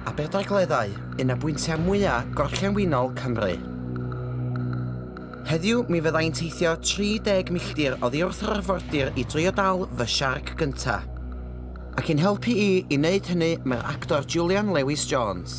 Aberdaugleddau, un o bwyntiau mwyaf gorllewinol Cymru. Heddiw mi fydda i'n teithio 30 milltir oddi wrth yr arfordir i drio dal fy siarc gynta. Ac i'n helpu i i wneud hynny mae'r actor Julian Lewis Jones.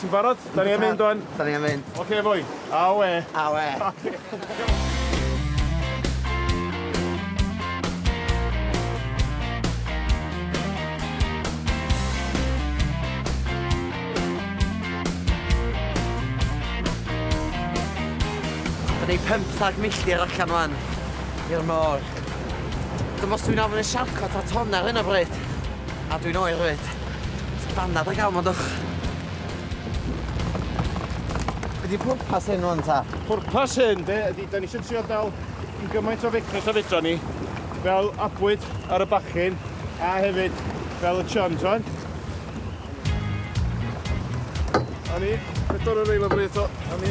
Ti'n barod? Da ni am mynd wan. Da ni am mynd. Oce boi. Awe. Awe. Oce. Da ni 15 milltir allan wan i'r môr. Dwi'm os dwi'n ofyn i siarco ta ton ar hyn o bryd. A dwi'n oer 'fyd. Sut banad da ga'l 'ma dwch? Be' 'di pwrpas hyn ŵan ta? Pwrpas hyn de ydi 'dan ni isio trio dal i gymaint o fecryll a fedran ni fel abwyd ar y bachyn a hefyd fel y chun t'mod? A ni, pedwar ar ail lefel eto, a ni.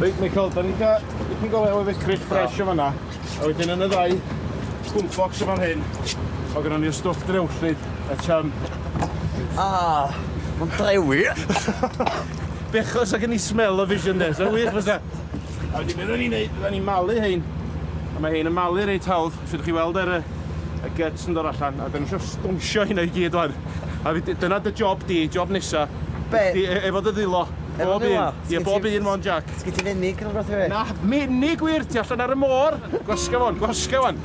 Reit, Michael, da ni'n cael dipyn go lew o fecryll ffres o fanna. A wedyn yn y ddau gwlbocs yma'n hyn, o gynnon ni'r stwff drewllyd, a cham. Ah, mae'n drewi. Bechos ac yn i smell o vision de, sa'n wych fysa? A wedyn beth o'n i'n neud, da ni'n malu hein. A mae hein yn malu reit hawdd. Felly dych chi'n weld yr yy y gyts yn dod allan a 'dan ni isio stownsio hynna i gyd ŵan a fy- dyna dy job di, job nesa. Be'? Ydi e- efo dy ddwylo. Efo Bob ddwylo? un. Ie bob un mond Jac. Sgin ti fenig ne' rwbath i fi? Na, menig wir, ti allan ar y môr! Gwasga ŵan, gwasga ŵan.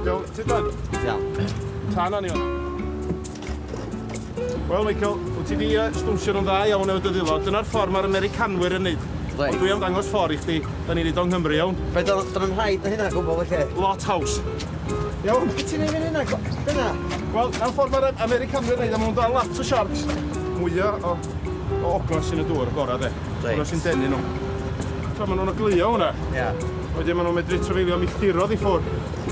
Iawn, tyd ŵan. Iawn. Tan ŵan Iwan. Wel Michael, wyt ti di uh, stwnsio nhw'n dda iawn efo dy ddilod. Dyna'r ffordd mae'r Americanwyr yn neud. Reit. Ond dwi am dangos ffordd i chdi. Da ni'n neud o'n Nghymru iawn. Fe dyn nhw'n rhaid na hynna gwbl felly. Lot haws. Iawn? Be ti'n neud fan hynna? Dyna? Wel, na'r ffordd mae'r Americanwyr neud, a maen nhw'n dal lot o sharks. Mwya o, o ogla sy'n y dŵr, y gorau de. Reit. Hwna sy'n denu nhw. Tra maen nhw'n oglio hwnna. Ia. Wedyn maen nhw'n medru trafeilio milltirodd i ffwrdd.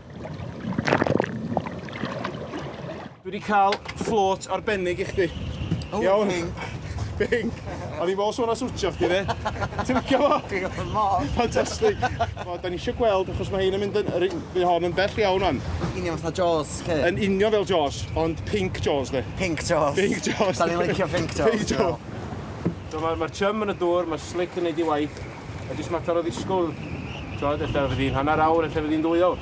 Dwi wedi cael fflôt arbennig i chdi. Oh, Iawn. Bing. Bing. A ni fos o'na swtio chdi, ne? Ti'n licio fo? Dwi'n licio fo. Fantastic. Fo, da ni eisiau gweld, achos mae hyn yn mynd yn... Mae hon yn bell iawn o'n. Union fatha Jaws, chi? Yn union fel Jaws, ond pink Jaws, ne? Pink Jaws. Pink Jaws. Da ni'n licio pink Jaws. Pink Jaws. So mae'r ma chum yn y dŵr, mae'r slick yn neud i waith. Mae jyst mater o ddisgwyl, t'od, ella fydd hi'n hanner awr, ella fydd hi'n ddwy awr.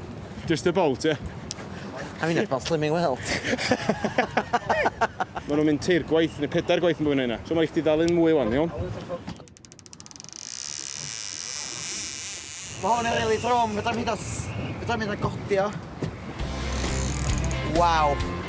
Just about, ie. I mean, about slimming well. Mae nhw'n mynd teir gwaith, neu pedair gwaith yn bwyn yna. So mae eich di ddal un mwy wan, iawn? Mae hwn yn rili drwm, fydda mi dda... Fydda mi dda godio. Waw.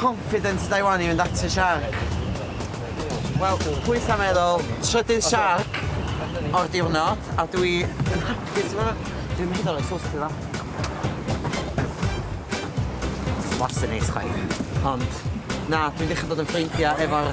Confident ydw i wan i fynd at y siarc. Wel, pwyth a meddwl, trydydd siarc o'r diwrnod, a dwi yn hapus efo fe. Dwi'n mynd o'r exhaust i dda. Wastad neis chwaith. Ond, na, dwi'n dechrau bod yn ffrindiau efo'r